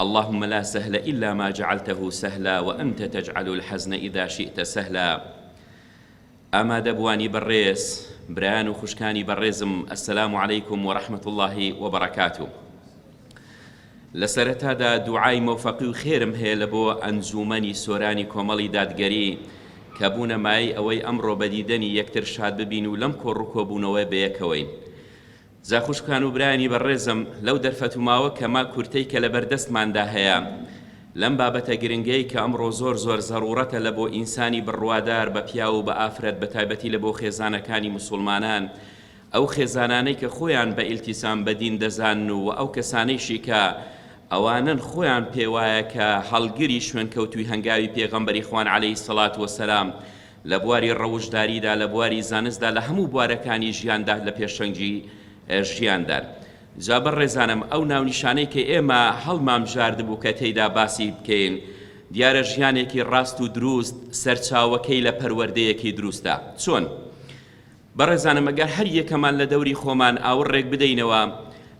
اللهم لا سهل الا ما جعلته سهلا وانت تجعل الحزن اذا شئت سهلا ئامادەبوانی بەڕێز برایان و خوشکانی بەڕێزم ئەسلام علیکم و رحمت اللهی و بەڕکاتو لە سەرەتادا دوعای مەوفەقی و خێرم هەیە لە بۆ ئەنجومەنی سۆرانی کۆمەڵی دادگەری کە بوونە مای ئەوەی ئەمڕۆ بەدیدەنی یەکتر شاد ببین و لەم کۆڕ و کۆبوونەوەی بەیەکەوەین جا خوشکان و برایانی بەڕێزم لەو دەرفەتوماوە کەمە کورتەی کە لەبەر دەستماندا هەیە لەم بابەتە گرنگەی کە ئەمڕۆ زۆر زۆر زەڕوڕەتە لە بۆ ئینسانی بڕوادار بە پیاو و بە ئافرەت بە تایبەتی لە بۆ خێزانەکانی مسوڵمانان ئەو خێزانانەی کە خۆیان بە ئیلتیسام بە دین دەزانن و ئەو کەسانەیشی کە ئەوانن خۆیان پێوایە کە هەڵگری شوێنکەوتوی هەنگاوی پێغەمبەری خوان عەلەیهی سەڵات وەسەلام لە بواری ڕەوشتداریدا، لە بواری زانستدا، لە هەموو بوارەکانی ژیاندا لە پێشەنگی ژیاندان. جا بەڕێزانم ئەو ناونیشانەی کە ئێمە هەڵمانبژاردبوو کە تێیدا باسی بکەین، دیارە ژیانێکی ڕاست و دروست سەرچاوەکەی لە پەروەردەیەکی دروستە. چۆن؟ بەڕێزانم گەر هەر یەکەمان لە دەوری خۆمان ئاوڕ ڕێک بدەینەوە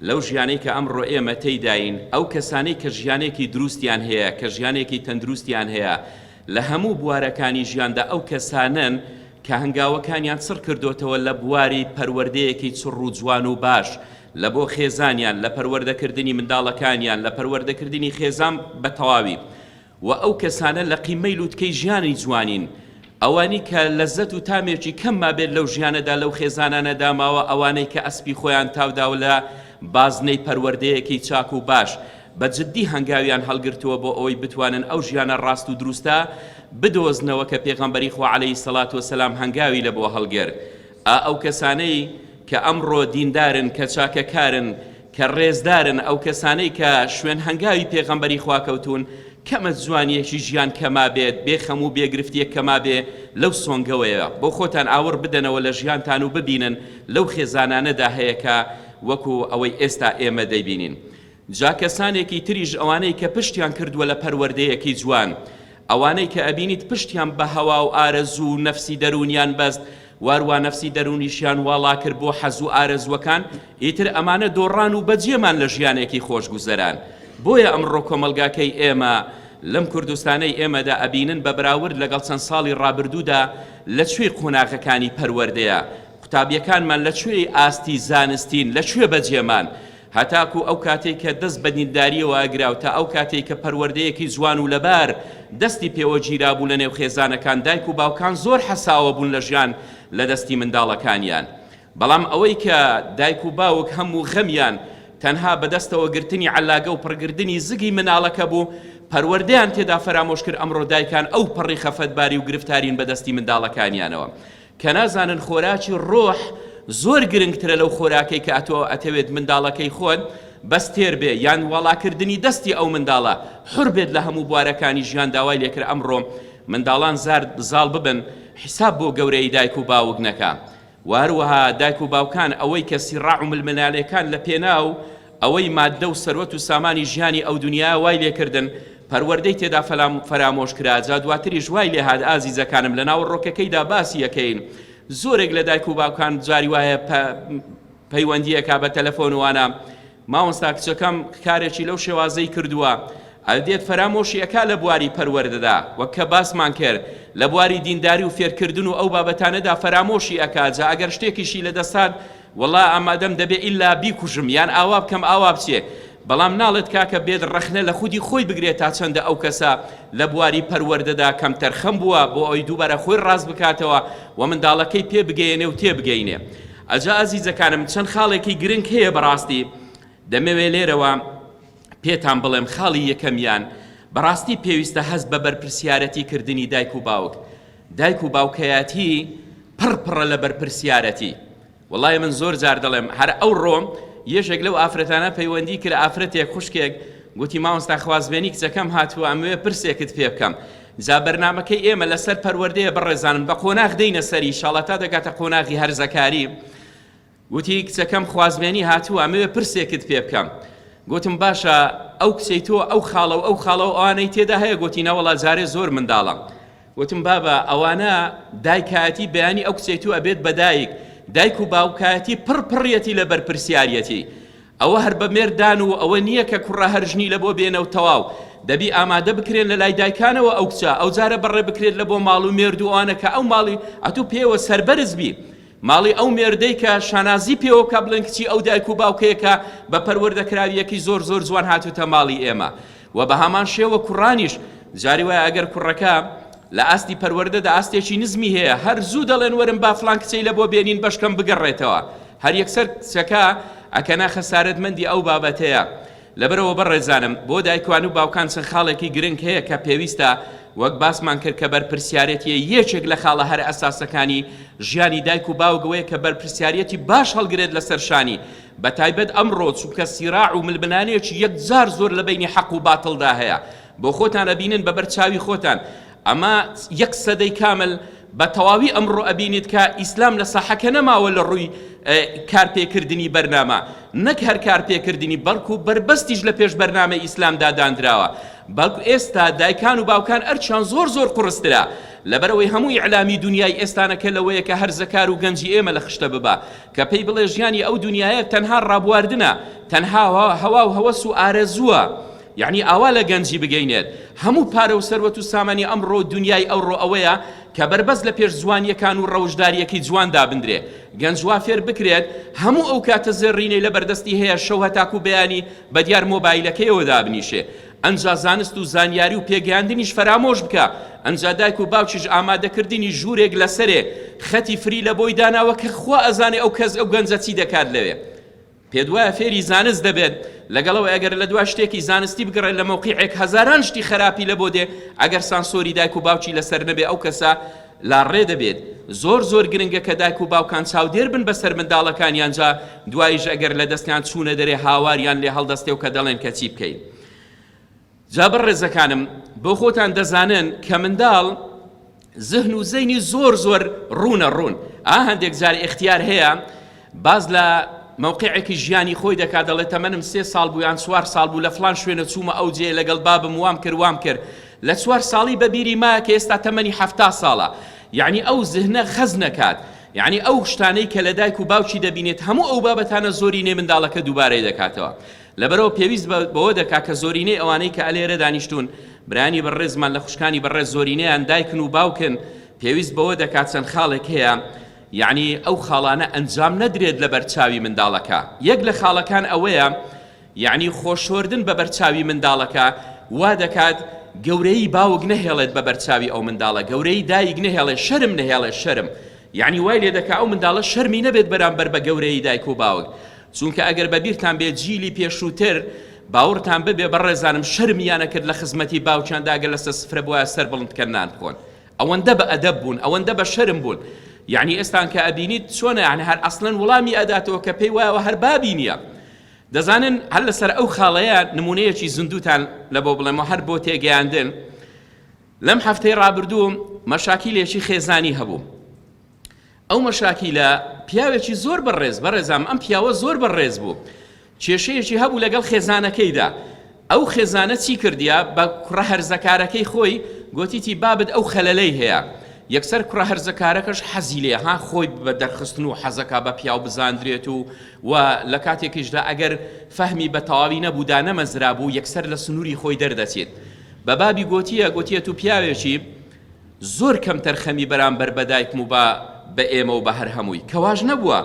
لەو ژیانەی کە ئەمڕۆ ئێمە تێیداین، ئەو کەسانەی کە ژیانێکی دروستیان هەیە، کە ژیانێکی تەندروستیان هەیە لە هەموو بوارەکانی ژیاندا، ئەو کەسانەن کە هەنگاوەکانیان چڕ کردۆتەوە لە بواری پەروەردەیەکی چڕ و جوان و باش لە بۆ خێزانیان، لە پەروەردەکردنی منداڵەکانیان، لە پەروەردەکردنی خێزان بە تەواوی. وە ئەو کەسانە لە قیممەی لوتکەی ژیانی جوانین ئەوانی کە لەزەت و تامێکی کەم مابێت لەو ژیانەدا لەو خێزانانەدا ماوە ئەوانەی کە ئەسپی خۆیان تاوداوە لە بازنەی پەروەردەیەکی چاک و باش بە جدی هەنگاویان هەڵگرتووە بۆ ئەوەی بتوانن ئەو ژیانە ڕاست و دروستە بدۆزنەوە کە پێغەمبەری خوا علیە سڵات وسلام هەنگاوی لە بۆ هەڵگرت ئا ئەو کەسانەی کە ئەمڕۆ دیندارن کە چاکەکارن کە ڕێزدارن ئەو کەسانەی کە شوێن هەنگاوی پێغەمبەری خوا کەوتوون کەمە جوانیەکی ژیان کەما بێت بێ خەم و بێگرفتیەک کەما بێ لەو سۆنگەوەیە بۆ خۆتان ئاوڕ بدەنەوە لە ژیانتان و ببینن لەو خێزانانەدا هەیە کە وەکو ئەوەی ئێستا ئێمە دەیبینین جا کەسانێکی تریش ئەوانەی کە پشتیان کردووە لە پەروەردەیەکی جوان ئەوانەی کە ئەبینیت پشتیان بە هەوا و ئارەزوو و نەفسی دەروونیان بەست واروا نەفسی دەروونیشیان واڵا کرد بۆ حەز و ئارەزووەکان ئیتر ئەمانە دۆڕان و بەجێمان لە ژیانێکی خۆشگوزەران بۆیە ئەمڕۆ کۆمەڵگاکەی ئێمە لەم کوردستانەی ئێمەدا ئەبینن بە بەراورد لەگەڵ چەند ساڵی ڕابردوودا لە کوێی قۆناغەکانی پەروەردەیە قوتابیەکانمان لە کوێی ئاستی زانستین لە کوێ بەجێمان هەتاکوو ئەو کاتەی کە دەست بە دیندارییەوە ئەگرا و تا ئەو کاتەی کە پەروەردەیەکی جوان و لەبار دەستی پێوە گیرابوو لە نێو خێزانەکان دایک و باوکان زۆر حەساوە بوون لە ژیان لە دەستی منداڵەکانیان بەڵام ئەوەی کە دایک و باوک هەم و غەمیان تەنها بەدەستەوە گرتنی عەلاگە و پڕگردنی زگی مناڵەکە بوو پەروەردەیان تێدا فەرامۆش کرد ئەمڕۆ دایکان ئەو پەڕی خەفەتباری و گرفتارین بە دەستی منداڵەکانیانەوە کە نازانن خۆراکی ڕۆح زۆر گرنگترە لەو خۆراکەی کە تۆ ئەتەوێت منداڵەکەی خۆت بەس تێر بێ یان واڵاکردنی دەستی ئەو منداڵە حڕ بێت لە هەموو بوارەکانی ژیان داوای لێکرا ئەمڕۆ منداڵان زارد زاڵ ببن حیساب بۆ گەورەی دایک و باوک نەکا وهەروەها دایک و باوکان ئەوەی کە سیڕاع و ململانێکان لە پێناو ئەوەی ماددە و سەروەت و سامانی ژیانی ئەو دونیایە وای لێکردن پەروەردەی تێدا فەرامۆش کرا، جا دواتریش وای لێهات ئازیزەکانم لە ناوەڕۆکەکەیدا باسی ئەکەین زۆرێک لە دایک و باوکان جاری وایە پەیوەندی ئەکا بە تەلەفۆن وانە مامۆستا کچەکەم کارێکی لەو شێوازەی کردووە ئەدێت فەرامۆشی ئەکا لە بواری پەروەردەدا وەک کە باسمان کرد لە بواری دینداری و فێرکردن و ئەو بابەتانەدا فەرامۆشی ئەکا جا ئەگەر شتێکیشی لە دەستان وەڵا ئامادەم دەبێ ئیلا بیکوژم یان ئاوا بکەم ئاوا بچێ بەڵام ناڵێت کاکە بێت ڕەخنە لە خودی خۆی بگرێت تا چەندە ئەو کەسە لە بواری پەروەردەدا کەمتەرخەم بووە بۆ ئەوی دووبارە خۆی ڕاست بکاتەوە و منداڵەکەی پێ بگەیەنێ و تێبگەینێ ئەجا ئازیزەکانم چەند خاڵێکی گرنگ هەیە بەڕاستی دەمەوێ لێرەوە پێتان بڵێم خاڵی یەکەمیان بەڕاستی پێویستە هەست بە بەرپرسیارەتی کردنی دایک و باوک دایک و باوکەیاتی پڕ پڕە لە بەرپرسیارەتی وەڵای من زۆر جار دەڵێم هەر ئەو ڕۆم یەشێک لەو ئافرەتانە پەیوەندی کرد ئافرەتێک خوشکێک گوتی ماوەستا خوازبێنی کچەکەم هاتووە ئەموێ پرسێکت پێ بکەم جا بەرنمەکەی ئێمە لەسەر پەروەردەیە بەڕێزانم بە قۆناغ دەینە سەری شاڵە تا دەگاتە قۆناغی هەرزەکاری گوتی، کچەکەم خوازبێنی هاتووە، ئەمەوێ پرسێکت پێ بکەم. گوتم، باشە، ئەو کچەی تۆ ئەو خاڵە و ئەو خاڵە و ئەوانەی تێدا هەیە؟ گوتی، نەوەڵا جارێ زۆر منداڵە. گوتم، بابە، ئەوانە دایکایەتی بەیانی ئەو کچەی تۆ ئەبێت بە دایک، دایک و باوکایەتی پڕ پڕیەتی لە بەرپرسیاریەتی. ئەوە هەر بە مێرددان و ئەوە نییە کە کوڕە هەر ژنی لەبۆ بێنە و تەواو. دەبی ئامادە بکرێن لە لای دایکانەوە ئەو کچە، ئەوجارە بەڕێ بکرێت لەبۆ ماڵ و مێرد و ئەوانە کە ئەو ماڵی ئەتوو پێیەوە سەربەرز بی. ماڵی ئەو مێردەی کە شانازی پێوە بکا بڵێن کچی ئەو دایک و باوکەیە کە بە پەروەردە کراویەکی زۆر زۆر جوان هاتوتە ماڵی ئێمە و بە هەمان شێوە کوڕانیش جاری وایە ئەگەر کوڕەکە لە ئاستی پەروەردەدا ئاستێکی نزمی هەیە هەر زوو دەڵێن وەرن با فلان کچەی لە بۆ بێنین بەشکەم بگەڕێتەوە هەر یەکسەر کچەکە ئەکەنە خەسارەتمەندی ئەو بابەتەیە لەبەرئەوە بەڕێزانم بۆ دایکان و باوکان چەند خاڵێکی گرنگ هەیە کە پێویستە وەک باسمان کرد کە بەرپرسیارێتیە یەکێک لە خاڵە هەرە ئەساسەکانی ژیانی دایک و باوک وەیە کە بەرپرسیارێتی باش هەڵگرێت لەسەر شانی بە تایبەت ئەمڕۆ چونکە سیراع و ململانێکی یەکجار زۆر لە بەینی حەق و باتڵدا هەیە بۆ خۆتان ئەبینن بەبەر چاوی خۆتان ئەمە یەک سەدەی کامل بە تەواوی ئەمڕۆ ئەبینیت کە ئیسلام لە ساحەکە نەماوە لە ڕووی کارپێکردنی بەرنامە نەک هەر کارپێکردنی بەڵکو بەربەستیش لە پێش بەرنامە ئیسلامدا دانراوە بەڵکو ئێستا دایکان و باوکان ئەرچیان زۆر زۆر قڕسترا لەبەرەوەی هەموو ئیعلامی دنیای ئێستانەکە لەوەیە کە هەرزەکار و گەنجی ئێمە لە خشتە ببا کە پێی بڵێ ژیانی ئەو دنیایە تەنها ڕابواردنە تەنها هەوا و هەوەس و ئارەزووە یەعنی ئاوا لە گەنجی بگەینێت. هەموو پارە و سەروەت و سامانی ئەمڕۆ و دونیای ئەوڕۆ ئەوەیە کە بەربەست لە پێش جوانییەکان و ڕەوشدارییەکەی جوان دابندرێ. گەنج وا فێر بکرێت هەموو ئەو کاتە زێڕینەی لە بەردەستی هەیە شەو هەتاکوو بەیانی بە دیار مۆبایلەکەیەوە دابنیشێ. ئەنجا زانست و زانیاری و پێگەیاندنیش فەرامۆش بکا. ئەنجا دایک و باوکیش ئامادە کردنی ژوورێک لە سەرێ خەتی فری لە بۆی داناوە کە خوا ئەزانێ ئەو کەس ئەو گەنجە چی دەکات لەوێ. پێت وایە فێری زانست دەبێت؟ لەگەڵ ئەوەی ئەگەر لە دوا شتێکی زانستی بگەڕێت لە مەوقیعێک هەزاران شتی خەراپی لە بۆ دێ، ئەگەر سانسۆری دایک و باوکی لەسەر نەبێ ئەو کەسە لاڕێ دەبێت. زۆر زۆر گرنگە کە دایک و باوکان چاودێر بن بەسەر منداڵەکانیان جا دواییش ئەگەر لە دەستیان چوونە دەرێ هاواریان لێ هەڵدەستێ و کە دەڵێن کە چی بکەین. جا بەڕێزەکانم بۆ خۆتان دەزانن کە منداڵ زهن و زەینی زۆر زۆر ڕوونە ڕوون ئا هەندێک جار ئێختیار هەیە باز لە موقعێکی ژیانی خۆی دەکات دەڵێت تەمەنم سێ ساڵ بوو یان چوار ساڵ بوو لە فلان شوێنە چوومە ئەو جێ لەگەڵ بابم وام کرد وام کرد لە چوار ساڵی بەبیری ما کە ئێستا تەمەنی هەفتا ساڵە یعنی ئەو زهنە خەز نەکات یعنی ئەو شتانەی کە لە دایک و باوکی دەبینێت هەموو ئەو بابەتانە زۆری نێ منداڵەکە دووبارەی دەکاتەوە لەبەرئەوە پێویست بەوە دەکا کە زۆرینەی ئەوانەی کە ئەلێرە دانیشتوون برایانی بەڕێزمان لە خوشکانی بەڕێز زۆرینەیان دایکن و باوکن پێویست بەوە دەکات چەند خاڵێک هەیە یعنی ئەو خاڵانە ئەنجام نەدرێت لە بەرچاوی منداڵەکە یەک لە خاڵەکان ئەوەیە یعنی خۆشۆردن بە بەرچاوی منداڵەکە وا دەکات گەورەی باوک نەهێڵێت بە بەرچاوی ئەو منداڵە گەورەی دایک نەهێڵێ شەرم نەهێڵێ شەرم یعنی وای لێ دەکا ئەو منداڵە شەرمی نەبێت بەرامبەر بە گەورەی دایک و باوک چونکە ئەگەر بە بیرتان بێت جیلی پێشووتر باوڕتان ببێ بەڕێزانم شەرمیان نەکرد لە خزمەتی باوکیاندا گەر لەسەر سفرە بوایە سەر بڵند کەن نان بخۆن ئەوەندە بە ئەدەب بوون ئەوەندە بە شەرم بوون یعنی ئێستان کە ئەبینیت چۆنە یعنی هەر ئەسلەن وڵامی ئەداتەوە کە پێی وایەوە هەر بابی نییە دەزانن هەر لەسەر ئەو خاڵەیە نمونەیەکی زیندووتان لە بۆ بڵێمەوە هەر بۆ تێگەیاندن لەم هەفتەی ڕابردووم مەشاکیلێکی خێزانی هەبوو ئەو مەشاکیلە پیاوێکی زۆر بەڕێز بەڕێزام ئەم پیاوە زۆر بەڕێز بوو کێشەیەکی هەبوو لەگەڵ خێزانەکەیدا ئەو خێزانە چی کردیا بە کوڕە هەرزەکارەکەی خۆی گوتیتی بابت ئەو خەلەلەی هەیە یەکسەر کوڕە هەرزەکارەکەش حەزی لێ ها خۆی بە دەرخستن و حەزەکە بە پیاو بزاندرێت و و لە کاتێکیشدا ئەگەر فەهمی بە تەواوی نەبوودا نەمەزرا بوو یەکسەر لە سنووری خۆی دەردەچێت بە بابی گوتیە گوتیە و پیاوێکی زۆر کەمتەرخەمی بەرامبەر بە دایکم و با بە ئێمە و بە هەر هەمووی کە واش نەبووە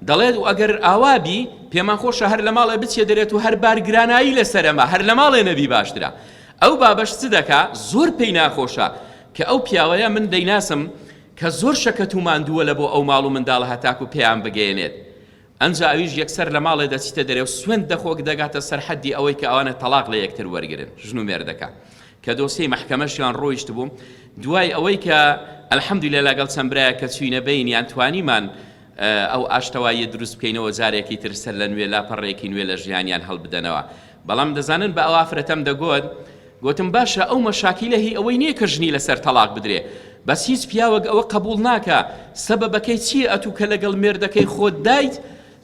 دەڵێت و ئەگەر ئاوا بی پێمان خۆشە هەر لە ماڵێ بچێ دەرێت و هەر بار گرانایی لەسەرەما هەر لە ماڵێ نەبی باشترە ئەو بابەش چ دەکا زۆر پێی ناخۆشە کە ئەو پیاوەیە من دەیناسم کە زۆر شەکەت و ماندووە لە بۆ ئەو ماڵ و منداڵە هەتاکو پێیان بگەیەنێت ئەنجا ئەویش یەکسەر لە ماڵێ دەچیتە دەرێ و سوێند دەخۆ کە دەگاتە سەر حەددی ئەوەی کە ئەوانە تەڵاق لە یەکتر وەرگرن ژن و مێردەکە کە دۆسیەی مەحکەمەشیان ڕۆیشت بووم دوای ئەوەی کە ئەلحەمدیلە لەگەڵ چەند برایە کە چوینە بینیان توانیمان ئەو ئاشتەواییە دروست بکەینەوە جارێکی تر سەر لە نوێ لاپەڕەیەکی نوێ لە ژیانیان هەڵبدەنەوە بەڵام دەزانن بە ئەو ئافرەتەم دەگۆت گۆتم باشە ئەو مەشاکیلە هی ئەوەی نییە کە ژنی لەسەر تەلاق بدرێ بەس هیچ پیاوەک ئەوە قبول ناکە سەبەبەکەی چییە ئەتوو کە لەگەڵ مێردەکەی خۆت دایت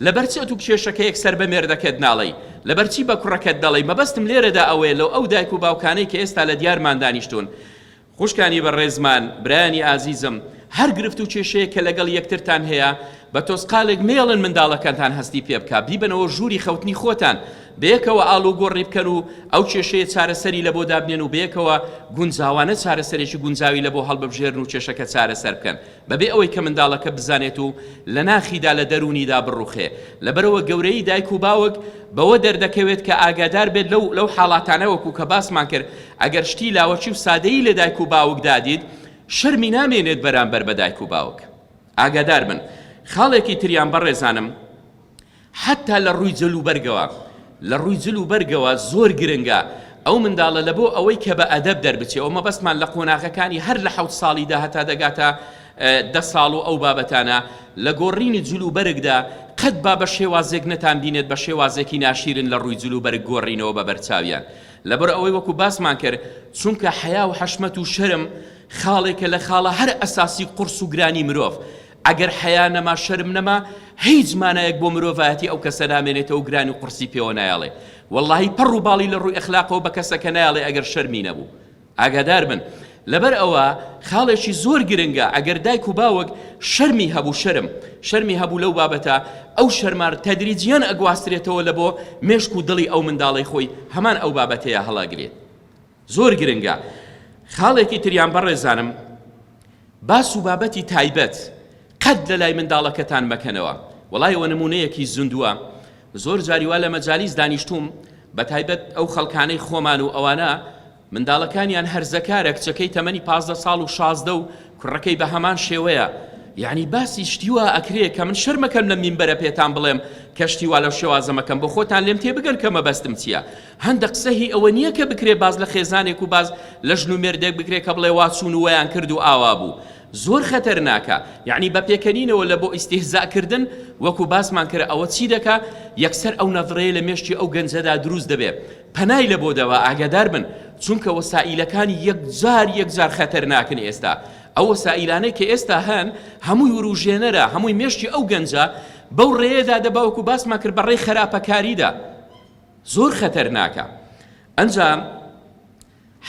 لەبەرچی ئەتوو کێشەکە یەک سەر بە مێردەکەت ناڵی لەبەرچی بە کوڕەکەت دەڵی مەبەستم لێرەدا ئەوەیە لەو ئەو دایک و باوکانەی کە ئێستا لە دیارمان دانیشتون خوشکانی بەڕێزمان، برایانی ئازیزم، هەر گرفت و کێشەیەک کە لەگەڵ یەکترتان هەیە، بە تۆزقالێک مەیەڵن منداڵەکانتان هەستی پێ بکا، بیبەنەوە ژووری خەوتنی خۆتان، بەیەکەوە ئاڵوگۆڕی بکەن و ئەو کێشەیە چارەسەری لەبۆ دابنێن و بەیەکەوە گونجاوانە چارەسەرێکی گونجاوی لەبۆ هەڵببژێرن و کێشەکە چارەسەر بکەن. بەبێ ئەوەی کە منداڵەکە بزانێت و لە ناخیدا لە دەروونیدا بڕوخێ، لەبەرئەوە گەورەیی دایک و باوک بەوە دەردەکەوێت کە ئاگادار بێت لەو لەو حاڵاتانە وەکو کە باسمان کرد ئەگەر شتی لاوەکی و سادەیی لە دایک و باوکدا دیت شەرمی نامێنێت بەرامبەر بە دایک و باوک ئاگادار بن خاڵێکی تریان بەڕێزانم حەتتا لە ڕووی جل و بەرگەوە لە ڕووی جل و بەرگەوە زۆر گرنگە ئەو منداڵە لە بۆ ئەوەی کە بە ئەدەب دەربچێ و مەبەستمان لە قۆناغەکانی هەر لە حەوت ساڵیدا هەتا دەگاتە دە ساڵ و ئەو بابەتانە لە گۆڕینی جل و بەرگدا قەت با بە شێوازێک نەتان بینێت بە شێوازێکی ناشیرن لە ڕووی جل و بەرگ گۆڕینەوە بە بەرچاویان لەبەر ئەوەی وەکو باسمان کرد چونکە حەیا و حەشمەت و شەرم خاڵێکە لە خاڵە هەر ئەساسی قورس و گرانی مرۆڤ ئەگەر حەیا نەما شەرم نەما هیچ مانایەک بۆ مرۆڤایەتی ئەو کەسە نامێنێتەوە و گرانی قورسی پێوە نایەڵێ وەڵاهی پەڕ و باڵی لە ڕووی ئەخلاقەوە بە کەسەکە نایەڵێ ئەگەر شەرمی نەبوو ئاگادار بن لەبەر ئەوە خاڵێکی زۆر گرنگە ئەگەر دایک و باوک شەرمی هەبوو شەرم شەرمی هەبوو لەو بابەتە ئەو شەرمار تەدریجیان ئەگواسترێتەوە لە بۆ مێشک و دڵی ئەو منداڵی خۆی هەمان ئەو بابەتەیە هەڵاگرێت زۆر گرنگە خاڵێکی تریان بەڕێزانم باس و بابەتی تایبەت قەت لە لای منداڵەکەتان مەکەنەوە وڵای ئەوە نمونەیەکی زندووە زۆر جاریوا لە مەجالیس دانیشتوم بە تایبەت ئەو خەڵکانەی خۆمان و ئەوانە منداڵەکانیان هەرزەکارە کچەکەی تەمەنی پازدە ساڵ و شازدە و کوڕەکەی بە هەمان شێوەیە یعنی باسی شتیوا ئەکرێ کە من شەرمەکەم لە مینبەرە پێتان بڵێم کە شتیوا لەو شێوازەمەکەم بۆ خۆتان لێم تێبگەن کە مەبەستم چییە هەندە قسە هی ئەوە نییە کە بکرێ باس لە خێزانێک و باس لە ژن و مێردێک بکرێ کە بڵێ وا چوون و وەیان کرد و ئاوا بوو زۆر خەتەرناکە یعنی بە پێکەنینەوە لە بۆ ئیستیهزا کردن وەکو باسمان کرد ئەوە چی دەکا یەکسەر ئەو نەڤڕەیە لە مێشکی ئەو گەنجەدا دروست دەبێ پەنای لە بۆ دەوە ئاگادار بن چونکە وەسائیلەکانی یەکجار یەکجار خەتەرناکن ئێستا ئەو وەسائیلانەی کە ئێستا هەن هەمووی وروژێنەرە هەمووی مێشکی ئەو گەنجە بەو ڕێەدا دەباوەکو باسمان کرد بەڕێی خراپەکاریدا زۆر خەتەرناکە ئەنجام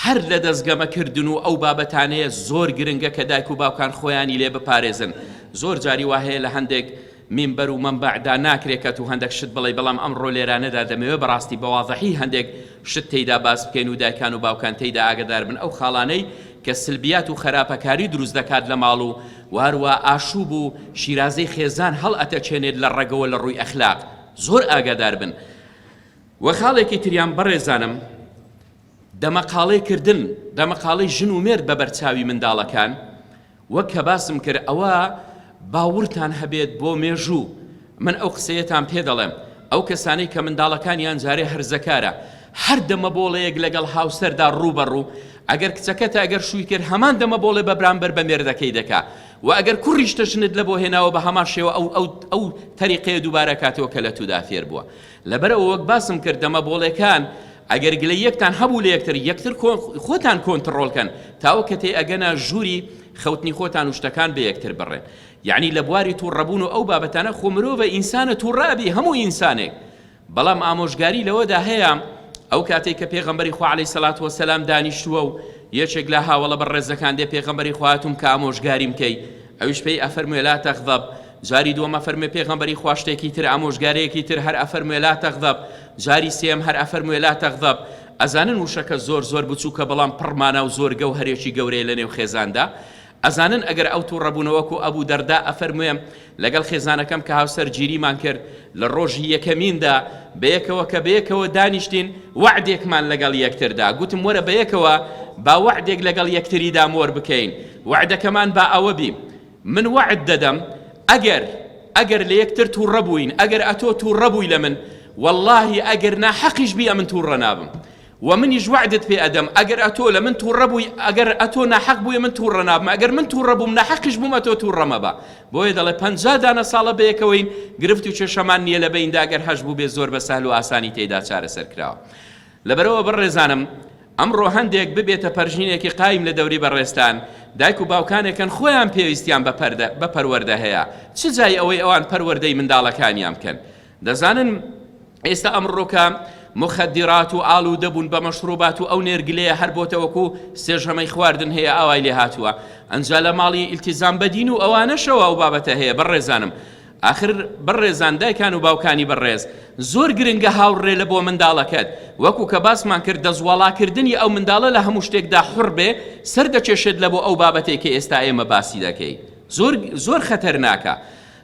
هەر لە دەست گەمە کردن و ئەو بابەتانەیە زۆر گرنگە کە دایک و باوکان خۆیانی لێ بپارێزن زۆر جاری وا هەیە لە هەندێک مینبەر و مەمبەعدا ناکرێت کە تو هەندێک شت بڵێ بەڵام ئەمڕۆ لێرانەدا دەمەوێ بەڕاستی بەواضحی هەندێک شت تێیدا باس بکەین و دایکان و باوکان تێیدا ئاگدار بن ئەو خاڵانەی کە سلبیات و خەراپەکاری دروست دەکات لە ماڵ و واروا ئاشوب و شیرازەی خێزان هەڵ ئەتەچێنێت لە ڕەگەوە لە ڕووی ئەخلاق زۆر ئاگادار بن وە خاڵێکی تریان بەڕێزانم دەمەقاڵێ کردن دەمەقاڵی ژن و مێرد بە بەرچاوی منداڵەکان وەک کە باسم کرد ئەوە باورتان هەبێت بۆ مێژوو من ئەو قسەیەتان پێ دەڵێم ئەو کەسانەی کە منداڵەکانیان جارێ هەرزەکارە هەر دەمە بۆڵەیەک لەگەڵ هاوسەردا ڕووبەڕوو ئەگەر کچەکەتە ئەگەر شووی کرد هەمان دەمە بۆڵێ بە برامبەر بە مێردەکەی دەکا وە ئەگەر کوڕیشتە ژنت لەبۆ هێناوە بە هەمان شێوە ئەو ئەو ئەو تەریقەیە دووبارە کاتەوە کە لە تودا فێر بووە لەبەر ئەوە وەک باسم کرد دەمە بۆڵێکان ئەگەر گلەی یەکتان هەبوو لە یەکتر یەکتر خۆتان کۆنتڕۆڵ کەن تاوە کە تێ ئەگەنە ژووری خەوتنی خۆتان و شتەکان بە یەکتر بڕێن یعنی لە بواری تووڕەبوون و ئەو بابەتانە خۆ مرۆڤە ئینسانە تووڕە ئەبی هەموو ئینسانێک بەڵام ئامۆژگاری لەوەدا هەیە ئەو کاتەی کە پێغەمبەری خوا عەلەیهی سەڵات وەسەلام دانیشتووە و یەکێک لە هاوەڵە بەڕێزەکان دێ پێغەمبەری خوا هاتووم کە ئامۆژگاریم کەی ئەویش پێی ئەفەرموێ لا تەغضب جاری دووەم ئەفەرموێ پێغەمبەری خوا شتێکی تر ئامۆژگارەیەکی تر هەر ئەفەرموێ لا تەغضب جاری سێم هەر ئەفەرموێ لا تەغضب ئەزانن وشەکە زۆر زۆر بچووکە بەڵام پڕ مانا و زۆر گەوهەرێکی گەورەیە لەنێو خێزاندا ئەزانن ئەگەر ئەو توڕە بوونە وەکو ئەبو دەرداء ئەفەرموێ لەگەڵ خێزانەکەم کە هاوسەر گیریمان کرد لە ڕۆژی یەکەمیندا بەیەکەوە کە بەیەکەوە دانیشتین وەعدێکمان لەگەڵ یەکتردا گوتم وەرە بەیەکەوە با وەعدێک لەگەڵ یەکتریدا مۆر بکەین وەعدەکەمان با ئەوە بی من وەعد دەدەم ئەگەر ئەگەر لە یەکتر توڕە بووین ئەگەر ئەتۆ توڕە بووی لە من واللهی ئەگەر نا حەقیش بی ئەمن توڕە نابم وە منیش وەعدت پێ ئەدەم ئەگەر ئەتۆ لە من توڕە بووی ئەگەر ئەتۆ ناحەق بووی من توڕە نابم ئەگەر من توڕە بووم ناحەقیش بووم ئەتۆ توڕە مەبە بۆیە دەڵێ پەنجا دانە ساڵە بەیەکەوەین گرفت و کێشەمان نیە لە بەیندا گەر هەش بووبێ زۆر بە سەهل و ئاسانی تێیدا چارەسەر کراوە لەبەرەوە بەڕێزانم ئەمڕۆ هەندێک ببێتە پەرژینێکی قایم لە دەوری بەڕێزتان دایک و باوکانێکن خۆیان پێویستیان بە پەروەردە هەیە چ جای ئەوەی ئەوان پەروەردەی منداڵەکانیان بکەن دەزانن ئێستا ئەمڕۆکە مخدرات و ئالودە بوون بە مەشروبات و ئەو نێرگلەیە هەر بۆتە وەکو سێژەمەی خواردن هەیە ئاوای لێ هاتووە ئەنجا لە ماڵی ئیلتیزام بەدین و ئەوانەشەوە ئەو بابەتە هەیە بەڕێزانم ئاخر بەڕێزان دایکان و باوکانی بەڕێز زۆر گرنگە هاوڕێ لە بۆ منداڵەکەت وەکو کە باسمان کرد دەزوڵاکردنی ئەو منداڵە لە هەموو شتێکدا حڕ بێ سەر دەکێشێت لە بۆ ئەو بابەتێک کە ئێستا ئێمە باسی دەکەی زۆر زۆر خەتەرناکە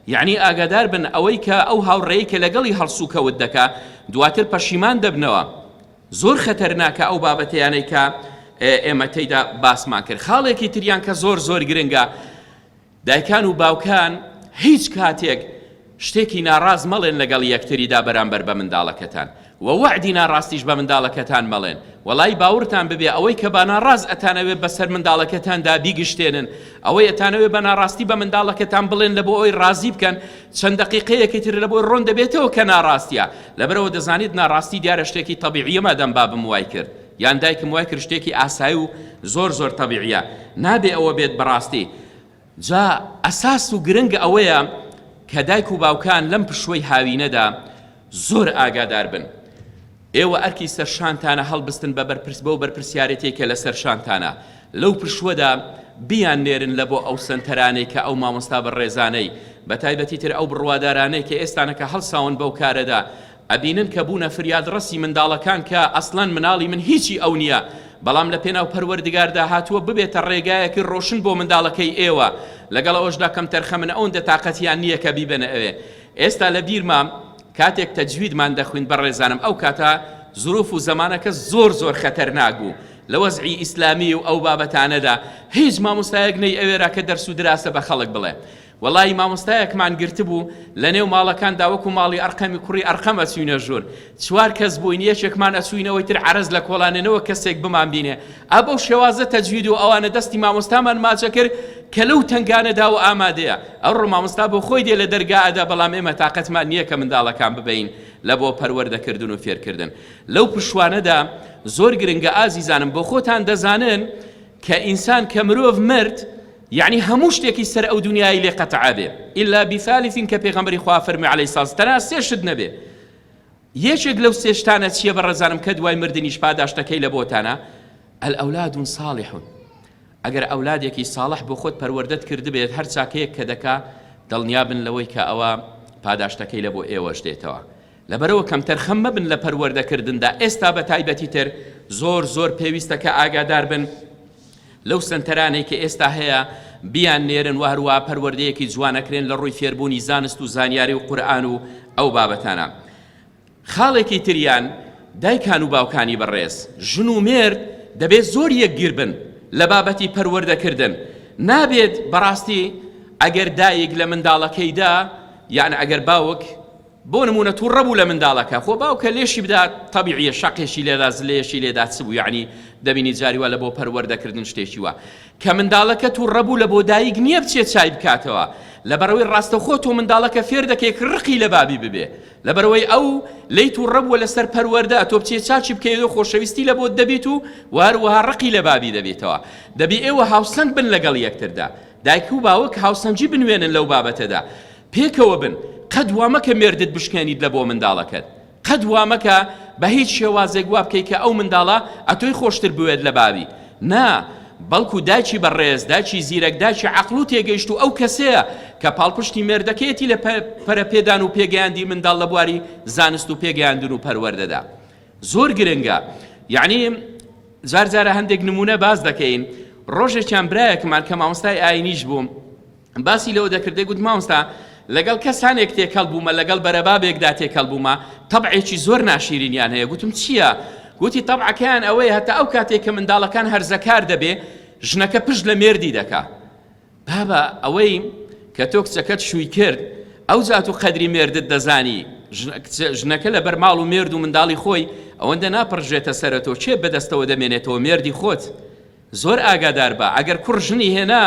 یەعنی ئاگادار بن ئەوەی کە ئەو هاوڕێی کە لەگەڵی هەڵسوکەوت دەکا دواتر پەشیمان دەبنەوە زۆر خەتەرناکە ئەو بابەتەیانەی کە ئێمە تێیدا باسمان کرد خاڵێکی تریان کە زۆر زۆر گرنگە دایکان و باوکان هیچ کاتێک شتێکی ناڕاز مەڵێن لەگەڵ یەکتریدا بەرامبەر بە منداڵەکەتان وە وەعدی ناڕاستیش بە منداڵەکەتان مەڵێن وەڵایی باوڕتان ببێ ئەوەی کە باناڕاست ئەتانەوێ بەسەر منداڵەکەتاندا بیگشتێنن ئەوەی ئەتانەوێ بە ناڕاستی بە منداڵەکەتان بڵێن لە بۆ ئەوی ڕازی بکەن چەند دەقیقەیەکی تر لەبۆی ڕۆن دەبێتەوە کە ناڕاستیە لەبەرئەوە دەزانیت ناڕاستی دیارە شتێکی تەبیعیە مادام بابم وای کرد یان دایکم وای کرد شتێکی ئاسای و زۆر زۆر تەبیعیە نابێ ئەوە بێت بەڕاستی جا ئەساس و گرنگ ئەوەیە کە دایک و باوکان لەم پشووەی هاوینەدا زۆر ئاگادار بن. ئێوە ئەرکی سەرشانتانە هەڵبستن بە بەرپرس بەو بەرپرسیارێتی کە لە سەرشانتانە لەو پشووەدا بیان نێرن لە بۆ ئەو سەنتەرانەی کە ئەو مامۆستا بەڕێزانەی بە تایبەتی تر ئەو بڕوادارانەی کە ئێستانەکە هەڵساون بەو کارەدا ئەبینن کە بوونە فریادڕەسی منداڵەکان کە ئەسڵەن مناڵی من هیچی ئەو نیە بەڵام لە پێناو پەروەردگاردا هاتووە ببێتە ڕێگایەکی ڕۆشن بۆ منداڵەکەی ئێوە لەگەڵ ئەوەشدا کەمتەرخەمن ئەوەندە تاقەتیان نیە کە بیبەنە ئەوێ ئێستا لە بیرمە کاتێک تەجویدمان دەخویند بەڕێزانم ئەو کاتە زروف و زەمانەکە زۆر زۆر خەتەرناک بوو لە وەزعی ئیسلامی و ئەو بابەتانەدا هیچ مامۆستایەک نەی ئەوێرا کە دەرس و دراسە بە خەڵک بڵێ وەڵایی مامۆستایەکمان گرتبوو لەنێو ماڵەکاندا وەکو ماڵی ئەرقەمی کوڕی ئەرقەم ئەچوینە ژوور چوار کەس بووین یەکێکمان ئەچووین ئەوەی تر عەرەز لە کۆڵانێ نەوەک کەسێک بمانبینێ ئا بەو شێوازە تەجوید و ئەوانە دەستی مامۆستامان ماچەکرد کە لەو تەنگانەدا و ئامادەیە ئەڕۆ مامۆستا بۆ خۆی دێ لە دەرگا ئەدا بەڵام ئێمە تاقەتمان نییە کە منداڵەکان ببەین لە بۆ پەروەردەکردن و فێرکردن لەو پشوانەدا زۆر گرنگە ئازیزانم بۆ خۆتان دەزانن کە ئینسان کە مرۆڤ مرد یەعنی هەموو شتێکی سەر ئەو دونیایەی لێ قەتع ئەبێ الا بثالث کە پێغەمبەری خوا فەرمووی علیە ساس تەنها سێ شت نەبێ یەکێک لەو سێ شتانە چییە بە ڕەزانم کە دوای مردنیش پاداشتەکەی لە بۆتانە الاولاد صالح ئەگەر ئەولادێکی ساڵح بۆ خۆت پەروەردەت کردبێت هەر چاکەیەک کە دەکا دڵنیا بن لەوەی کە ئەوە پاداشتەکەی لە بۆ ئێوەش دێتەوە لەبەرەوە کەم تەرخەم مەبن لە پەروەردەکردندا ئێستا بە تایبەتی تر زۆر زۆر پێویستە کە ئاگادار بن لەو سەنتەرانەی کە ئێستا هەیە بیان نێرن و هەروە پەروەردەیەکی جوانەکرێن لە ڕووی فێربوونی زانست و زانیاری و قورآن و ئەو بابەتانە خاڵێکی تریان دایکان و باوکانی بەڕێز ژن و مێرد دەبێت زۆر یەکگیر بن لە بابەتی پەروەردەکردن نابێت بەڕاستی ئەگەر دایک لە منداڵەکەیدا یان ئەگەر باوک بۆ نمونە توڕە بوو لە منداڵەکە خۆ باوکە لێشی بدات تەبیعیە شەقێکی لێدا زلەیەکی لێدا چ بوو یعنی دەبینی جاری وا لە بۆ پەروەردەکردن شتێکی وا کە منداڵەکە توڕە بوو لە بۆ دایک نییە بچێت چای بکاتەوە لەبەرەوەی ڕاستەخۆ تۆ منداڵەکە فێر دەکەی کە ڕقی لە بابی ببێ لەبەرەوەی ئەو لەی توڕە بووە لەسەر پەروەردە تۆ بچێت چاچی بکەیەوە خۆشەویستی لە بۆت دەبیت و وهروەها ڕقی لە بابی دەبێتەوە دەبی ئێوە هاوسەنگ بن لەگەڵ یەکتردا دایک و باوک هاوسەنگی بنوێنن لەو بابەتەدا، پێکەوە بن، قەت وا مەکە مێردت بشکێنیت لە بۆ منداڵەکەت، قەت وا مەکە بە هیچ شێوازێک وا بکەی کە ئەو منداڵە ئەتۆی خۆشتر بوێت لە باوی، نا، بەڵکو دایکی بەڕێز، دایکی زیرەک، دایکی عەقڵ و تێگەیشتوو ئەو کەسەیە کە پاڵپشتی مێردەکەیەتی لە پەرەپێدان و پێگەیاندی منداڵ لە بواری زانست و پێگەیاندن و پەروەردەدا. زۆر گرنگە یەعنی جار جارە هەندێک نمونە باس دەکەین ڕۆژێکیان برایەکمان کە مامۆستای ئاینیش بووم باسی لەوە دەکردێ گوت مامۆستا لەگەڵ کەسانێک تێکەڵ بوومە لەگەڵ بەرەبابێکدا تێکەڵ بوومە تەبعێکی زۆر ناشیرینیان هەیە گوتم چییە؟ گوتی تەبعەکەیان ئەوەیە هەتا ئەو کاتێک کە منداڵەکان هەرزەکار دەبێ ژنەکە پشت لە مێردی دەکا بابە ئەوەی کە تۆ کچەکەت شووی کرد ئەو زات و قەدری مێردت دەزانی ژنەکە لە بەر ماڵ و مێرد و منداڵی خۆی ئەوەندە ناپڕژێتە سەرە تۆ چێ بەدەستەوە دەمێنێتەوە مێردی خۆت زۆر ئاگادار بە ئەگەر کوڕ ژنی هێنا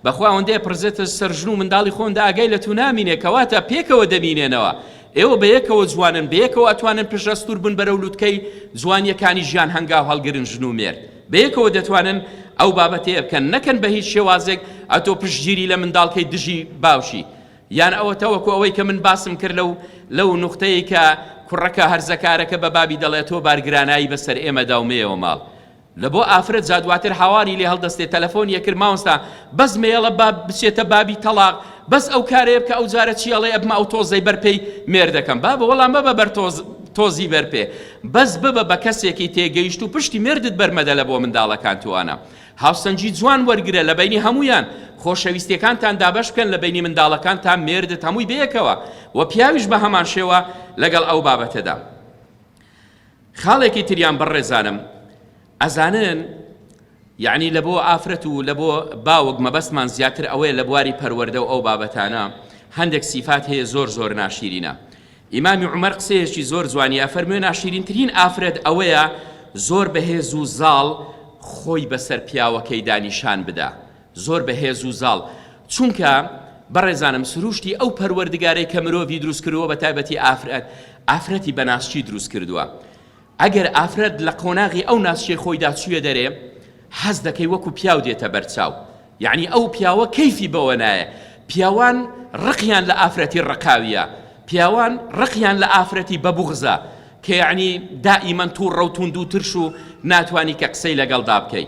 بەخوا ئەوەندەیە پرزێتە سەر ژن و منداڵی خۆندا ئاگای لە تو نامینێ کەواتە پێکەوە دەمینێنەوە ئێوە بە یەکەوە جوانن بە یەکەوە ئەتوانن پشەستور بن بەرەو لوتکەی جوانیەکانی ژیان هەنگاو هەڵگرن ژن و مێرد بەیەکەوە دەتوانن ئەو بابەتەیە بکەن نەکەن بە هیچ شێوازێک ئەتۆ پشتگیری لە منداڵ کەی دژی باوکی یان ئەوە تەوەکو ئەوەی کە من باسم کرد لەو لەو نوختەیە کە کوڕەکە هەرزەکارەکە بە بابی دەڵێت تۆ بارگرانایی بەسەر ئێمە داومەیەوە ماڵ لە بۆ ئافرەت جا دواتر هاواری لێ هەڵدەستێ تەلەفۆن یەکرد ماوەستا بەس مێڵە باب بچێتە بابی تەڵاق بەس ئەو کارێ بکە ئەو جارە چیاڵێ ئەبمە ئەو تۆزەی بەرپێی مێردەکەم بابە وەڵام بە بە بەر تۆز تۆزی بەرپێ بەس ببە بە کەسێکی تێگەیشتوو پشتی مێردت بەرمەدەلە بۆ منداڵەکان توانە هاوسەنگی جوان وەرگرە لە بەینی هەموویان خۆشەویستیەکانتان دابەش بکەن لە بەینی منداڵەکان تا مێردت هەمووی بەیەکەوە و پیاویش بە هەمان شێوە لەگەڵ ئەو بابەتەدا خاڵێکی تریان بەڕێزانم ئەزانن یەعنی لە بۆ ئافرەت و لە بۆ باوک مەبەستمان زیاتر ئەوەیە لە بواری پەروەردە و ئەو بابەتانە هەندێک سیفات هەیە زۆر زۆر ناشیرینە ئیمامی عمر قسەیەکی زۆر جوانی ئەفەرموێ ناشیرینترین ئافرەت ئەوەیە زۆر بەهێز و زاڵ خۆی بەسەر پیاوەکەی دانیشان بدا زۆر بەهێز و زاڵ چونکە بەڕێزانم سروشتی ئەو پەروەردگارەی کە مرۆڤی دروست کردووە بە تایبەتی ئافرەت ئافرەتی بەناسچی دروست کردووە ئەگەر ئافرەت لە قۆناغی ئەو ناسکەی خۆیدا چوویە دەرێ، حەز دەکەی وەکو پیاو دێتە بەرچاو، یەعنی ئەو پیاوە کەیفی بەوە نایە، پیاوان ڕقیان لە ئافرەتی ڕقاویە، پیاوان ڕقیان لە ئافرەتی بە بوغزە، کە یەعنی دائیمەن توڕە و توندو ترش و ناتوانی کە قسەی لەگەڵدا بکەی.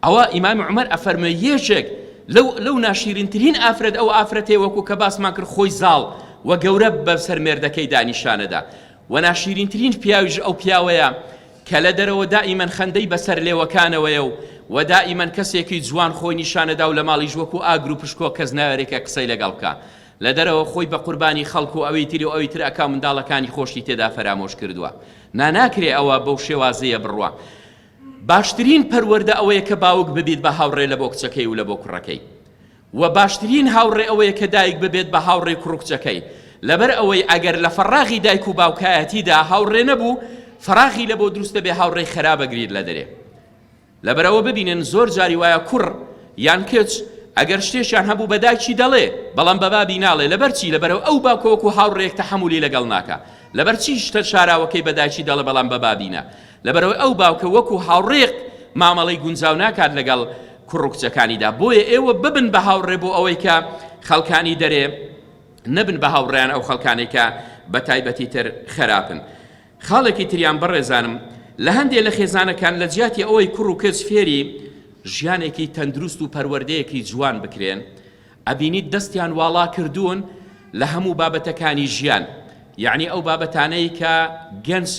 ئەوا ئیمام عومەر ئەفەرموێ یەکێک لەو لەو ناشیرینترین ئافرەت ئەو ئافرەتێ وەکو کە باسمان کرد خۆی زاڵ و گەورە بەسەر مێردەکەی دانیشانەدا و ناشیرینترین پیاویش ئەو پیاوەیە کە لە دەرەوە دائیمەن خەندەی بەسەر لێوەکانەوەیە و و دائیمەن کەسێکی جوان خۆی نیشانەدا و لە ماڵیش وەکو ئاگر و پشکۆ کەس ناوێرێکە قسەی لەگەڵ بکە لە دەرەوە خۆی بە قوربانی خەڵک و ئەوی تری و ئەوی تر ئەکا منداڵەکانی خۆشی تێدا فەرامۆش کردووە نا ناکرێ ئەوە بەو شێوازەیە بڕوا باشترین پەروەردە ئەوەیە کە باوک ببیت بە هاوڕێ لە بۆ کچەکەی و لە بۆ کوڕەکەی و باشترین هاوڕێ ئەوەیە کە دایک ببێت بە هاوڕێ کوڕ و کچەکەی لەبەر ئەوەی ئەگەر لە فەڕاغی دایک و باوکایەتیدا هاوڕێ نەبوو فەراغی لە بۆ دروست دەبێ هاوڕێی خەرابە گریر لە دەرێ لەبەرەوە ببینن زۆر جاری وایە کوڕ یان کچ ئەگەر شتێکیان هەبوو بە دایکی دەڵێ بەڵام بە بابی ناڵێ لەبەر چی لەبەرەوە ئەو باکۆک و هاوڕێک تەحەمولی لەگەڵ ناکە لەبەر چی شتە شاراوەکەی بە دایکی دەڵێ بەڵام بە بابینە لەبەرئەوەی ئەو باوکە وەکو هاوڕێک مامەڵەی گونجاو ناکات لەگەڵ کوڕ و کچەکانیدا بۆیە ئێوە ببن بە هاوڕێ بۆ ئەوەی کە خەڵکانی دەرێ نەبن بە هاوڕێیان ئەو خەڵکانەی کە بە تایبەتی تر خراپن خاڵێکی تریان بەڕێزانم لە هەندێک لە خێزانەکان لە جیاتی ئەوەی کوڕ و کچ فێری ژیانێکی تەندروست و پەروەردەیەکی جوان بکرێن ئەبینیت دەستیان واڵا کردوون لە هەموو بابەتەکانی ژیان یعنی ئەو بابەتانەی کە گەنج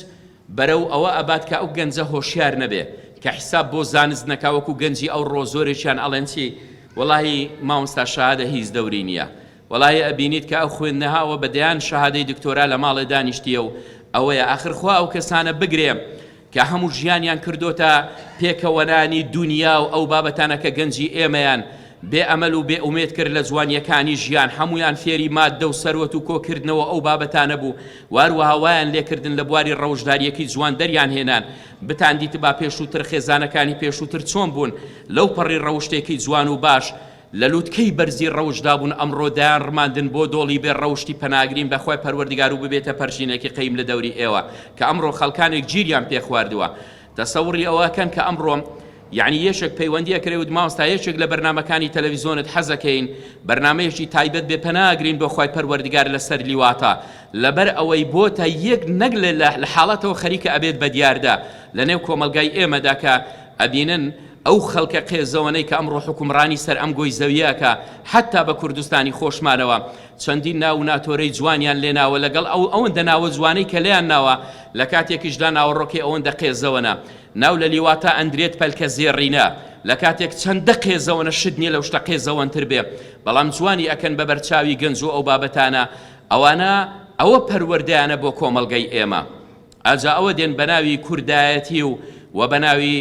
بەرەو ئەوە ئەبات کە ئەو گەنجە هۆشیار نەبێ کە حیساب بۆ زانست نەکا وەکو گەنجی ئەو ڕۆ زۆرێکیان ئەڵێن چی وەڵاهی مامۆستا شەهادە هیچ دەوری نیە وەڵاهی ئەبینیت کە ئەو خوێندنهاوە بە دەیان شەهادەی دکتۆرا لە ماڵێ دانیشتیە و ئەوەیە ئاخر خوا ئەو کەسانە بگرێ کە هەموو ژیانیان کردۆتە پێکەوەنانی دونیا و ئەو بابەتانە کە گەنجی ئێمەیان بێ ئەمەل و بێ ئومێد کرد لە جوانیەکانی ژیان هەمویان فێری ماددە و سەروەت و کۆکردنەوە ئەو بابەتانە بوو واروەها وایان لێکردن لە بواری ڕەوشداریەکی جوان دەریان هێنان، بتان دیتبا پێشووتر خێزانەکانی پێشووتر چۆن بوون، لەو پەڕی ڕەوشتێکی جوان و باش، لە لوتکەی بەرزی ڕەوشدا بوون ئەمڕۆ دایان ڕماندن بۆ دۆڵی بێ ڕەوشتی پەناگرین بە خوای پەروەردگارو ببێتە پەرژینێکی قەیم لە دەوری ئێوە کە ئەمڕۆ خەڵکانێک گیریان پێخواردووە تەسەوڕی ئەوە ئەکەن کە ئەمڕۆم یەعنی یەکێک پەیوەندی ئەکرێ وت مامۆستا یەکێک لە بەرنامەکانی تەلەڤیزۆنت حەزەکەین بەرنامەیەکی تایبەت بێ پەنا ئەگرین بۆ خوای پەروەردگار لە سەر لیواتە لەبەر ئەوەی بۆتە یەک نەک لە حاڵەتەوە خەریکە ئەبێت بە دیاردە لە نێو کۆمەڵگای ئێمەدا کە ئەبینن ئەو خەڵکە قێزەوەنەی کە ئەمڕۆ حکومڕانی سەر ئەم گۆی زەوییەکە حەتا بە کوردستانی خۆشمانەوە چەندین ناو و ناتۆرەی جوانیان لێناوە لەگەڵ ئەو ئەوەندە ناوە جوانەی کە لێیان ناوە، لە کاتێکیشدا ناوەڕۆکەی ئەوەندە قێزەوەنە، ناو لە لیوا تا ئەندرێت پەلکە زێڕینە، لە کاتێک چەندە قێزەوەنە شت نییە لەو شتە قێزەوەنتر بێ، بەڵام جوانی ئەکەن بە بەرچاوی گەنج و ئەو بابەتانە، ئەوانە ئەوە پەروەردەیانە بۆ کۆمەڵگەی ئێمە. ئاجا ئەوە دێن بەناوی کوردایەتی و و بەناوی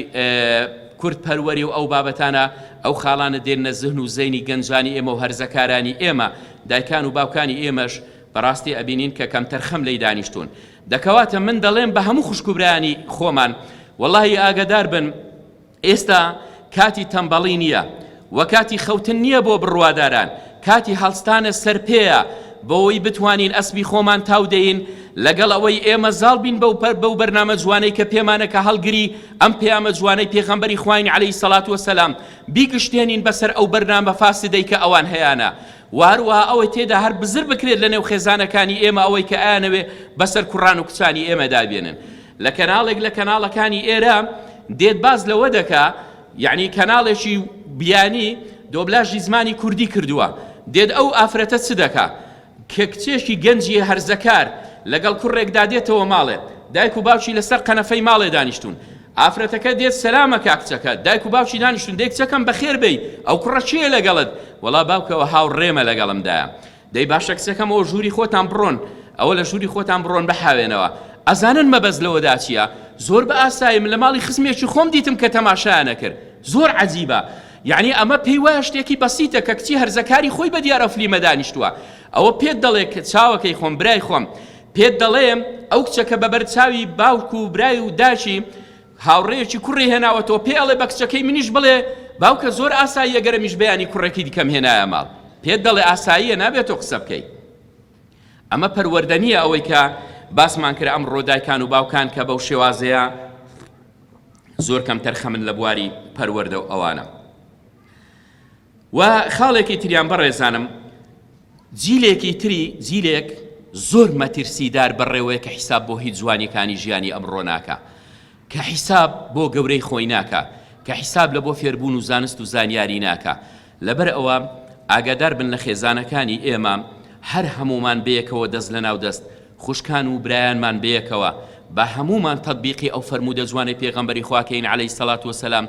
کورد پەروەری و ئەو بابەتانە ئەو خاڵانە دێنە زهن و زەینی گەنجانی ئێمە و هەرزەکارانی ئێمە دایکان و باوکانی ئێمەش بەڕاستی ئەبینین کە کەمتەر خەم لی دانیشتون دەکەواتە من دەڵێم بە هەموو خوشکوبرانی خۆمان واللهی ئاگدار بن ئێستا کاتی تەمبەڵی نییە و کاتی خەوتن نییە بۆ بڕواداران، کاتی هەڵستانە سەر پێیە بۆوەی بتوانین ئەسپی خۆمان تاو دەین، لەگەڵ ئەوەی ئێمە زاڵ بین بەو بەرنامە جوانەی کە پێمانە کە هەڵگری ئەم پەیامە جوانەی پێغەمبەری خواین علیە سەلات وسلام بیگشتێنین بەسەر ئەو بەرنامە فاسدەی کە ئەوان هەیانە و هەروەها ئەوەی تێدا هەر بزر بکرێت لە نێو خێزانەکانی ئێمە ئەوەی کە ئایانەوێ بەسەر کوڕان و کچانی ئێمەدا بێنن لە کەناڵێک لە کەناڵەکانی ئێرە دێت باس لەوە دەکا یعنی کەناڵێکی بیانی دۆبلاژی زمانی کوردی کردووە دێت ئەو ئافرەتە چ دەکا کە کچێکی گەنجی هەرزەکار لەگەڵ کوڕێکدا دێتەوە ماڵێ دایک و باوکی لەسەر قەنەفەی ماڵێ دانیشتون ئافرەتەکە دێت سەلامە کاکچەکە دایک و باوکی دانیشتون دێک چەکەم بەخێر بی ئەو کوڕە چیە لەگەڵت وەڵا باوکەوە هاوڕێمە لەگەڵمدایە دەی باشە کچەکەم ئەوە ژووری خۆتان بڕۆن ئەوە لە ژووری خۆتان بڕۆن بحاوێنەوە ئەزانن مەبەست لەوەدا چییە زۆر بە ئاسایی من لە ماڵی خزمێکی خۆم دیتم کە تەماشایانە کرد زۆر عجیبە یعنی ئەمە پێی وایە شتێکی بەسیتە کە کچی هەرزەکاری خۆی بە دیارە فلیمە دانیشتووە ئەوە پێت دەڵێ کە چاوەکەی خۆم برای خۆم پێت دەڵێم ئەو کچەکە بەبەر چاوی باوک و برای و داچی هاوڕێیەکی کوڕی هێناوەتەوە پێی ئەڵێ بە کچەکەی منیش بڵێ باوکە زۆر ئاساییە گەرمیش بەیانی کوڕێکی دیکەم هێنایە ماڵ پێت دەڵێ ئاساییە نابێت تۆ قسە بکەی ئەمە پەروەردە نییە ئەوەی کە باسمان کرد ئەم ڕۆدایکان و باوکان کە بەو شێوازەیە زۆر کەم تەرخەمن لە بواری پەروەردە و ئەوانە وە خاڵێکی تریان بەڕێزانم جیلێکی تری جیلێک زۆر مەترسیدار بەڕێوەیە کە حیساب بۆ هیچ جوانیەکانی ژیانی ئەمڕۆ ناکە کە حیساب بۆ گەورەی خۆی ناکە کە حیساب لە بۆ فێربوون و زانست و زانیاری ناکە لەبەر ئەوە ئاگادار بن لە خێزانەکانی ئێمە هەر هەمومان بەیەکەوە دەست لە ناو دەست خوشکان و برایانمان بەیەکەوە بە هەمومان تطبیقی ئەو فەرموودە جوانی پێغەمبەری خواکەین عەلەی سەلات وسلام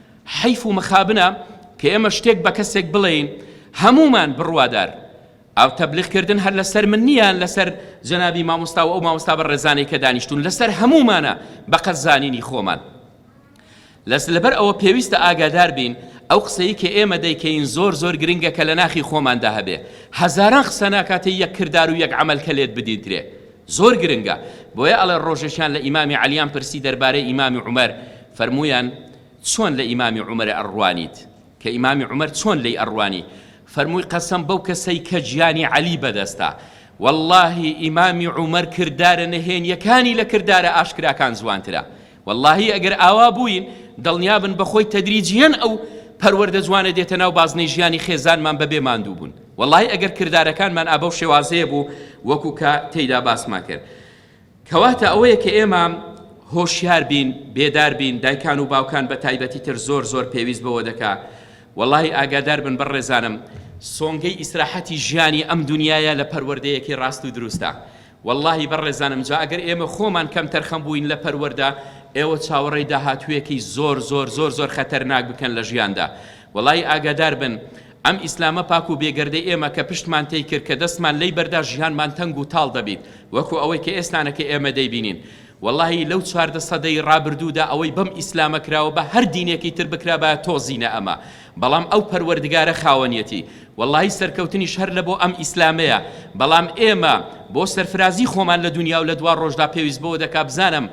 حەیف و مخابنە کە ئێمە شتێک بە کەسێک بڵێین هەموومان بڕوادار ئاو تەبلیغ کردن هەر لەسەر من نییە لەسەر جەنابی مامۆستا و ئەو مامۆستا بە ڕێزانەی کە دانیشتون لەسەر هەموومانە بە قەد زانینی خۆمان لەس لەبەر ئەوە پێویستە ئاگادار بین ئەو قسەی کە ئێمە دەیکەین زۆر زۆر گرنگە کە لە ناخی خۆماندا هەبێ هەزاران قسە ناکاتێ یەک کردار و یەک عمل کە لێت بدیدرێ زۆر گرنگە بۆیە ئەڵێ ڕۆژێکیان لە ئیمامی عەلیان پرسی دەربارەی ئیمامی عومەر فەرموویان چۆن لە ئیمامی عومەرە ئەڕوانیت کە ئیمامی عومەر چۆن لێی ئەڕوانی فەرمووی قەسەم بەو کەسەی کە گیانی عەلی بەدەستە وەڵڵاهی ئیمامی عومەر کردارە نەهێنیەکانی لە کردارە ئاشکراکان جوانترە وەڵاهی ئەگەر ئاوا بووین دڵنیابن بەخۆی تەدریجیەن ئەو پەروەردە جوانە دێتە ناو بازنەی ژیانی خێزانمان بەبێ ماندوو بوون وەڵاهی ئەگەر کردارەکانمان ئابەو شێوازەیە بوو وەکو کە تێیدا باسمان کرد کەواتە ئەوەیە کە ئێمە هۆشیار بین بێدار بین دایکان و باوکان بە تایبەتی تر زۆر زۆر پێویست بەوە دەکا وەڵی ئاگادار بن بەڕێزانم سۆنگەی ئیسراحەتی ژیانی ئەم دنیاە لە پەروەردەیەکی ڕاست و دروستە وەڵاهی بەڕێزانم جا ئەگەر ئێمە خۆمان کەمتەرخەم بووین لە پەروەردە ئێوە چاوەڕێی داهاتوویەکی زۆر زۆر زۆر زۆر خەتەرناک بکەن لە ژیاندا وەڵایی ئاگادار بن ئەم ئیسلامە پاک و بێگەردەی ئێمە کە پشتمان تێی کرد کە دەستمان لێی بەردا ژیانمان تەنگ و تاڵ دەبیت وەکو ئەوەی کە ئێستانە کە ئێمە دەیبینین وەڵاهی لەو چواردە سەدەی ڕابردوودا ئەوەی بەم ئیسلامە کراوە بە هەر دینێکی تر بکرابایە تۆزینە ئەمە بەڵام ئەو پەروەردگارە خاوەنیەتی وەڵاهی سەرکەوتنیش هەر لەبۆ ئەم ئیسلامەیە بەڵام ئێمە بۆ سەرفرازی خۆمان لە دونیا و لە دوا ڕۆژدا پێویست بەوە دەکا بزانم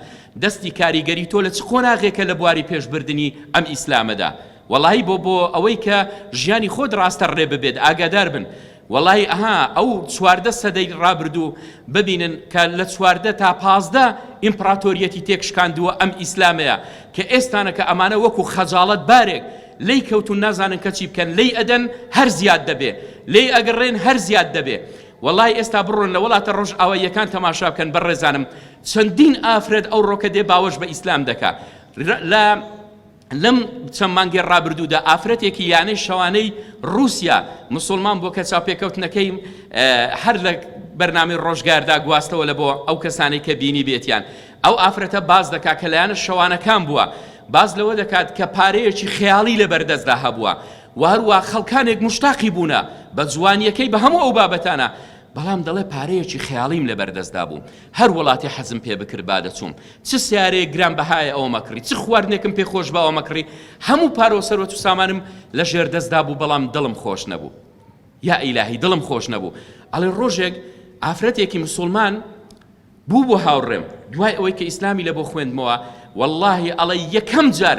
دەستی کاریگەری تۆ لە چ قۆناغێکە لە بواری پێش بردنی ئەم ئیسلامەدا وەڵاهی بۆ بۆ ئەوەی کە ژیانی خۆت ڕاستە ڕێ ببێت ئاگادار بن وەڵاهی ئەها ئەو چواردە سەدەی ڕابردوو ببینن کە لە چواردە تا پازدە ئیمپڕاتۆریەتی تێک شکاندووە ئەم ئیسلامەیە کە ئێستانە کە ئەمانە وەکو خەجاڵەت بارێک لێی کەوتون نازانن کەچی بکەن لێی ئەدەن هەر زیاد دەبێ لێی ئەگەڕێن هەر زیاد دەبێ وەڵی ئێستا بڕۆن لە وڵاتە ڕۆژ ئاواییەکان تەماشا بکەن بە ڕێزانم چەندین ئافرەت ئەو ڕۆکە دێ باوەش بە ئیسلام دەکا لە لەم چەند مانگی ڕابردوودا ئافرەتێکی یانەی شەوانەی ڕووسیا مسلمان بۆ کە چاوپێکەوتنەکەی هەر لە بەرنامی ڕۆژگاردا گواستەوە لە بۆ ئەو کەسانەی کە بینی بێتیان ئەو ئافرەتە باز دەکات کە لایەنە شەوانەکان بووە باز لەوە دەکات کە پارەیەکی خەیاڵی لە بەردەستدا هەبووە و هەروە خەڵکانێک مشتاقی بوونە بە جوانیەکەی بە هەموو ئەو بابەتانە بەڵام دەڵێ پارەیەکی خەیاڵیم لە بەردەستدا بوو هەر وڵاتێ حەزم پێ بکرد با دەچووم چ سیارەیەک گران بەهایە ئەوەم ئەکڕی چ خواردنێکم پێ خۆش بە ئەوەم ئەکڕی هەموو پارە و سەروەت و سامانم لە ژێر دەستدا بوو بەڵام دڵم خۆش نەبوو یا ئیلاهی دڵم خۆش نەبوو ئەڵێ ڕۆژێک ئافرەتێکی مسلمان بوو بۆ هاوڕێم دوای ئەوەی کە ئیسلامی لە بۆ خوێندمەوە واللهی ئەڵێ یەکەم جار